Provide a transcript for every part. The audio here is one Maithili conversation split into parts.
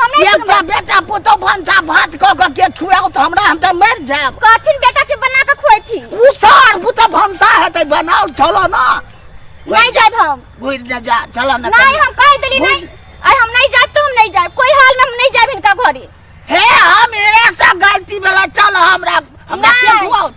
हमरा एक टा बेटा पुतौ भंसा भात क क के खुआओ त हमरा हम त मर जाब कहथिन बेटा के बना के खुएथिन उ सार पुतौ भंसा हेतै बनाओ चलो ना नहीं जाब हम घुर जा जा चलो ना नहीं हम कह देली नहीं आई हम नहीं जाब तो हम नहीं जाब कोई हाल में हम नहीं जाब इनका घरे हे हम एरे से गलती वाला चल हमरा हमरा के नहीं। खुआओ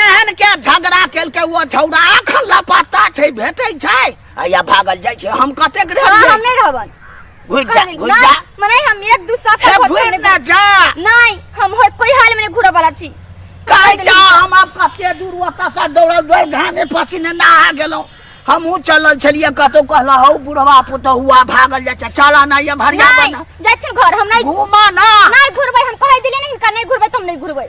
एहन के झगड़ा केलकै ओ छौड़ा अखन लापता छै भेटै छै आ या भागल जाइ छै हम कतेक हाँ, हम रहलियै नहीं रहबन घुर जा कहीं घुर ना, जा मने हम एक दू साथ हे होते घुर नहीं ना जा नहीं हम हो कोई हाल में नहीं घूरा वाला छी कहै जा हम आब कते दूर ओतऽ सँ दौड़ल दौड़ घामे पसीने नहा गेलहुँ हमहूँ चलल छलियै कतहु कहला हौ बुढ़वा पुतहुआ भागल जाइ छै चला ना ये भरिया नहीं बना जाए घर हम नहीं घूमा ना नहीं घूरबै हम कह दिले नहीं हिनका नहीं घूरबै तो हम नहीं घूरबै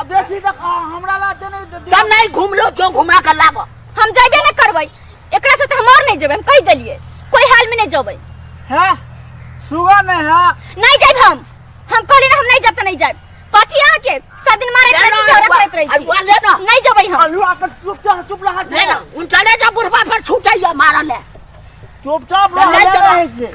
अब बेसी तक आ, हमरा ला ते नहीं दे- तब नहीं घूमलो जो घुमा के लाबो हम जाइबे ना करबै एकरा से त हम और नहीं जेबै हम कहि देलिए कोई हाल में नहीं जेबै है सुबह नहीं है नहीं जाइब हम हम कहली ना हम नहीं जाब त नहीं जाइब कथी अहाँ के सब दिन मारैत रहै छी झगड़ा करैत रहै छी अगुआ ले ना नहीं जेबै हम अलुआ पर चुप रह चुप रह ले ना उन चले जा बुढ़वा पर छूटे ये मारल है चुपचाप तब रह नहीं ले जगह। रहे छे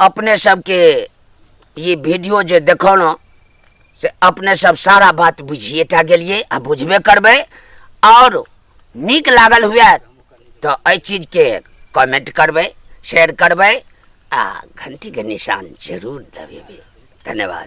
अपने सबके ई वीडियो जे देखौलहुँ से अपने सब सारा बात बुझिए टा गेलिए आ बुझबे करबै आओर नीक लागल हुए तऽ एहि चीजके कमेंट करबै शेयर करबै आ घंटीके निशान जरूर दबेबै धन्यवाद